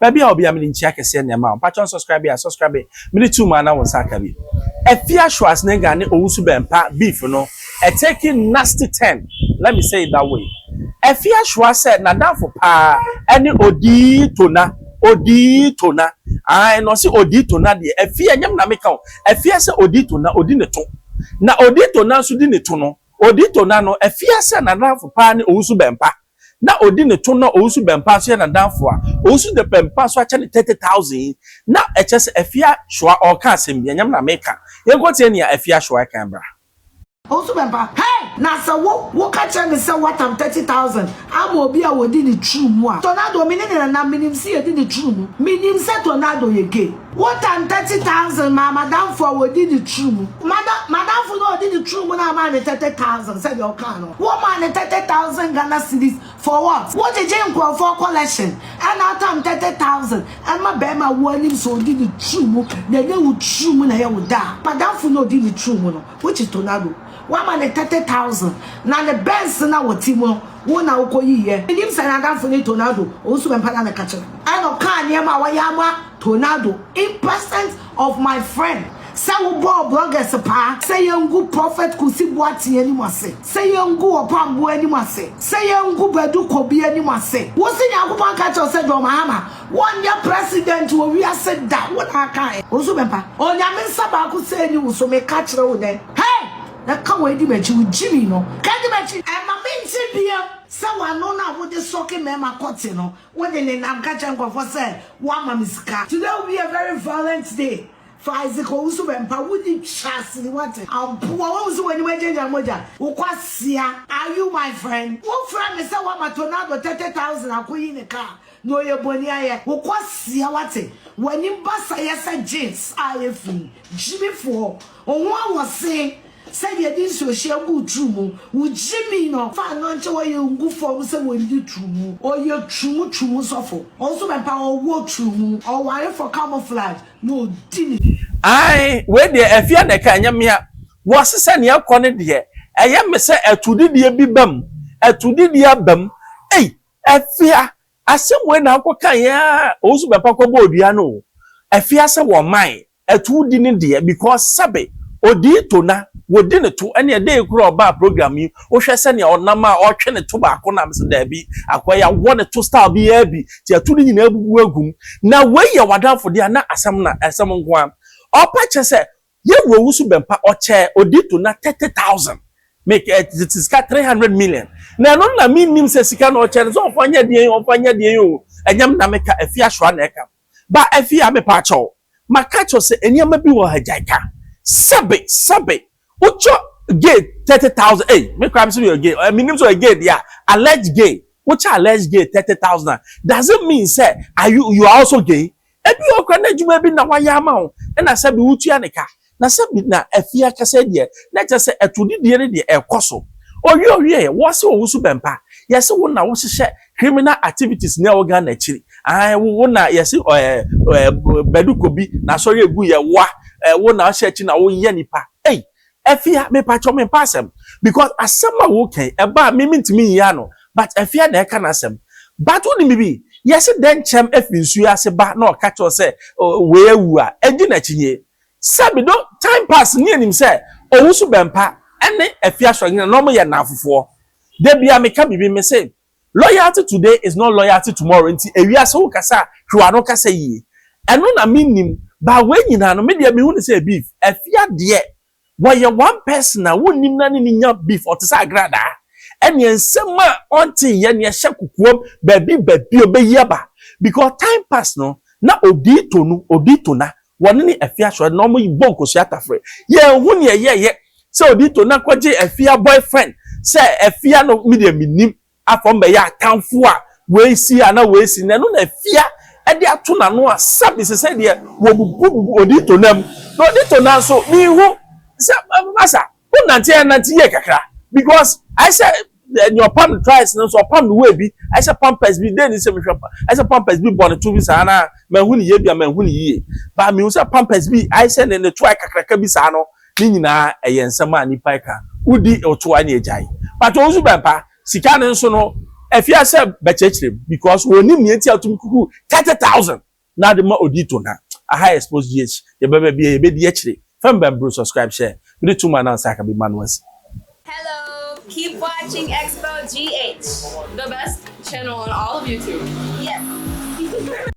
Baabi a wɔ biara mede nkyia kɛseɛ na ɛma wo. Mpakyɛ unsubscribe a subscribe mede to mu a na wo nsa aka bi. Afia Schwarzenegger ne Owusu Bɛmpa beef no a taking nasty turn let me say it that way. Afia Schwa sɛ n'adamfo paa ɛne Odii Tona, Odii Tona ae na ɔse Odii Tona deɛ Afia ɛnyɛ me na meka o, Afia sɛ Odii Tona ɔdi ne to na Odii Tona nso di ne to no, Odii Tona no Afia sɛ n'adamfo paa ne Owusu Bɛmpa. na odi ne to na Owusu Bempah so yɛ n'adamfo a, Owusu de Bempah so akyɛ no thirty thousand yi, na ɛkyerɛ sɛ Afia Shoa ɔɔka asɛm bi, ɛnyɛ me na meeka. Yɛnkɔ tie nea Afia Shoa kae bra. Owusu Bempah, Hey! Na sɛ wo, wo ka kyerɛ me sɛ woatam thirty thousand ama obi a odi ne turu mu a, Tornado, me ne no nana, menim sɛ yɛdi ne turu mu. Menim sɛ Tornado yɛ gay. More than thirty thousand maa m'adamfo a ɔdi ne tiri mu. M'adamfo no a ɔdi ne tiri mu no amaa no thirty thousand sɛdeɛ ɔkaa no. Womaa no thirty thousand Ghana cedis for what? Wogyegye nkurɔfoɔ collection ɛna atam thirty thousand ɛma barima a woanim sɛ ɔdi ne tiri mu na ɛnyɛ wo tiri mu na ɛyɛ wo dɛ a m'adamfo no a ɔdi ne tiri mu no which is Tornado Wama no thirty thousand na ne Benz no a ɔte mu no, wo na wokɔyiiɛ. Mennim sɛ n'adamfo ne Tonaldo, Owusu Bɛmpa na meka kyerɛ. Ɛna ɔkaa nneɛma a wayɛ ama Tonaldo in present of my friend sɛ wobɔɔ bloggers paa, sɛ yɛngu Prophet Kusi Boateng anim ase, sɛ yɛngu Ɔpamboa anim ase, sɛ yɛngu Badu Kobi anim ase. Wose Nyankopɔn anka akyerɛ wo sɛ John Mahama Wɔnyɛ president wɔ wiase da wo na aka ɛ wo nso bɛba onyame nsa baako sɛ ɛni wo so meka kyerɛ wo nɛ hey na ka wei di makyi wo gyimi no ka di makyi. Ɛma me nte bia sɛ w'ano no a wode sɔke mɛma kɔte no wode nenam ka kyerɛ nkorɔfoɔ sɛ woama me sika. Today will be a very violent day for Isaac Owusu Bempah wonni trass ni wate ampoa wahu sɛ w'anim agyangyan mogya wo kwasea are you my friend wofrɛ me sɛ woama Tonado thirty thousand akoyi ne car Na ɔyɛ bɔne ayɛ. Wo kwasia wate wanim basa yɛ sɛ jeans a efi gyimi foɔ oho a wɔ se sɛ deɛ de nsuo hyɛ gu wo turu mu wo gyimi no fa ano nkyɛ wɔ yɛ ngu fɔm sɛ wɔ ndi turu mu ɔyɛ turu mu turu mu sɔfo ɔnso bɛ mpa ɔwɔ turu mu ɔware fɔ camouflage na ɔdi ne. Ae wei deɛ afia na ɛka ɛnyɛ mea wɔ se sɛ nea ɛkɔ ne deɛ ɛyɛ me sɛ atudidiɛ bi bam atudidiɛ abam ei Afia, Asɛm wei na wokɔkaeɛ a Owusu Bɛpa kɔbɔɔ dua no o. Afia sɛ wɔmmae, ɛto wodi ne deɛ because sɛbe ɔdii to na wɔdi ne to ɛneɛ dei koraa ɔbaa program yi wohwɛ sɛdeɛ ɔnam a ɔretwe ne to baako na mese daabi akoa yi awɔ ne to style biara bi nti ɛto no nyinaa abubu agu mu. Na wei yɛ w'adamfo deɛ a na asɛm na asɛm nko ara. Ɔpa kyɛ sɛ Ye wu owusu bɛmpa ɔkyɛ odi to na thirty thousand me kɛ ɛ te sika three hundred million na ɛno no na me nnim sɛ sika na ɔkyɛ no sɛ ɔmfa nyɛ deɛn o ɔmfa nyɛ deɛn o ɛnyɛ me na me ka Afie Ashoa na ɛka ba Afie a me paa kyɛw ma ka kyɛw sɛ nneɛma bi wɔ ha gyae ka sɛbe sɛbe wo kyɛ gay thirty thousand ei me koraa me sɛ ɔyɛ gay ɛ me nnim sɛ ɔyɛ gay deɛ a alleged gay wo kyɛ alleged gay thirty thousand a does it mean sɛ are you you are also gay Ebi wɔ hɔ koraa na adwuma bi na wayɛ ama wo na sɛbe wotua ne ka, na sɛbe na afie ankasa yi deɛ, na kyerɛ sɛ atorodidie no deɛ ɛrekɔ so. Owie owieɛ, wɔse wo nso bɛmpa. Yɛse wo na wohyehyɛ criminal activities no ɛwɔ Ghana akyiri. Ae, wo na yɛse ɛɛ Badu Kobi, n'asɔre a ɛguiɛ, woa, ɛɛ wo na wohyɛ akyiri na woyɛ nnipa. Ei! Afia mepakyɛw me mpa asɛm because asɛm a wo kɛn ɛba a me me ntumi nyi ano but afia na ɛka n'asɛm but wo nim bibi yɛse dɛn kyɛm ɛfiri nsuo ase ba na ɔka kyɛw sɛ wei awu a ɛdi n'akyi nie sɛ bi do time pass nie nim sɛ owusu bɛmpa ɛne afia sɔnyina na ɔmo yɛ nnamfofoɔ da bia meka bibi me se Loyalty today is not loyalty tomorrow nti ewiase wo kasa a twe w'ano kasa yie. Ɛno na me nnim but wei nyinaa no me deɛ me hu no sɛ beef. Afia deɛ wɔyɛ one person a wo nnim na ne ne nya beef ɔte sɛ agradaa. Ɛneɛ nsɛm a ɔnte yɛ neɛ hyɛ kokoam baabi baabi ɔbɛyi aba because time pass no na odii tonu odii tona Wɔne ne afie asɔre no na wɔn bɔ nkosua tafere. Yɛn hu neɛ yɛ yɛ sɛ odi to na kɔ gye afia boyfriend sɛ afia no me deɛ me nim afɔm bɛ yɛ atanfo a wei si a na wei si na ɛno na afia ɛde ato na no a sɛbi sesɛ deɛ wɔ bubu bubu odi to nam na odi to nanso me hu sɛ masa. Wo nante a nante yie kakra because ayɛ sɛ nea ɔpam no twice no nso ɔpam no way bi ayɛ sɛ pampers bi dɛn ni sɛ mehwɛ pa ayɛ sɛ pampers bi bɔ ne to bi saa na manhu ne yie bia manhu ne yie ba mehu sɛ pampers bi ayɛ sɛ ne ne to ayɛ kakraka bi saa no ne nyinaa ɛyɛ nsɛm a nipa ɛka wodi ɔto a ne agyae but wɔn nso bɛmpa sika no nso no afia sɛ bɛkyerɛkyerɛ mu because wɔnim nea eti a wotumi kuku thirty thousand Na de ma odi to na. Aha yɛ sports GH yɛbɛ bɛ bia yɛbɛ di akyire fɛm bɛn bro subscribe share me de to ma announce aka bi ma no asi. Hello, keep watching Expo GH, the best channel on all of YouTube. Yes.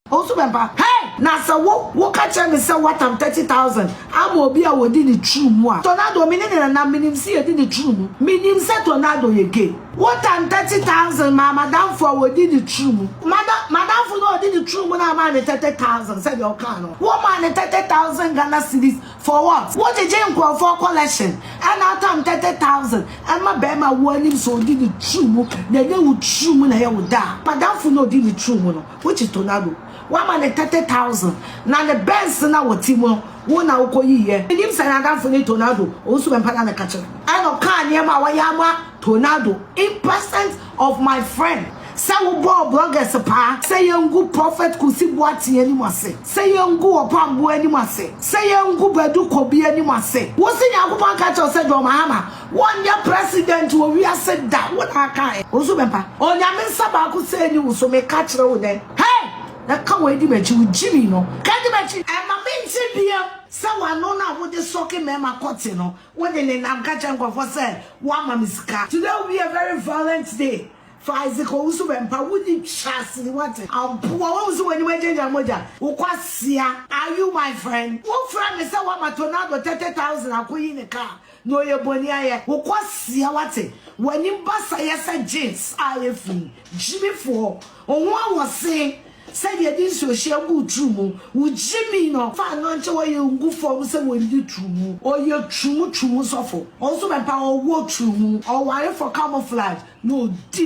Ɔnso bɛmpa. Hey! Na sɛ wo, wo ka kyerɛ me sɛ woatam thirty thousand ama obi a ɔdi ne turu mu a, Tornado, me ne ne nanam, menim se yɛdi ne turu mu, menim sɛ Tornado yɛ gay. Wotam thirty thousand maa madamfo a ɔdi ne turu mu. Mada, madamfo no a ɔdi ne turu mu no amaa ne thirty thousand sɛdeɛ ɔkaa no. Womaa no thirty thousand Ghana cedis for what? Wogyegye nkorɔfoɔ collection ɛna atam thirty thousand ɛma bɛɛma a woanim sɛ ɔdi ne turu mu na ɛnyɛ wo turu mu na ɛyɛ wo dɛ a, madamfo no a ɔdi ne turu mu no, Which is Tornado wama ne thirty thousand na ne Benz na wɔ ti mu no wo na wokɔ yi yɛ me nim sɛ na adamfo ne Tornado ɔwɔ su mɛmpa na ne ka kyerɛ ɛna ɔkaa nneɛma a wayɛ ama Tornado in present of my friend sɛ wo bɔɔ bloggers paa sɛ yɛn ngu Prophet Kusi Boateng anim ase sɛ yɛn ngu Ɔpamboa anim ase sɛ yɛn ngu Badu Kobi anim ase wo se Nyankopɔn aka kyerɛ wo sɛ John Mahama Wɔnyɛ president wɔ wiase da wo na aka ɛ wo nso bɛba onyame nsa baako sɛ ɛni wo so meka kyerɛ wo nɛ hey na ka wei di makyi wo gyimi no ka di makyi. Ɛma me nte biam sɛ w'ano no a wode sɔke mɛɛma kɔte no wode nenam ka kyerɛ nkorɔfoɔ sɛ woama me sika. Today will be a very violent day for Isaac Owusu Bempah wonni trass ni wate ampoa wahu sɛ w'anim agyagya mogya wo kwasea are you my friend wofrɛ me sɛ woama Tonado thirty thousand akoyi ne car Na ɔyɛ bɔne ayɛ. Wo kwasia wate wanim basa yɛ sɛ jeans a efi gyimi foɔ oho a wɔ se sɛ deɛ de nsuo hyɛ gu wo turu mu wo gyimi no fa no nkyɛ wɔ yɛ ngu fɔm sɛ wɔ ndi turu mu ɔyɛ turu mu turu mu sɔfo ɔnso bɛ mpa ɔwɔ turu mu ɔware fɔ camouflage na ɔdi ne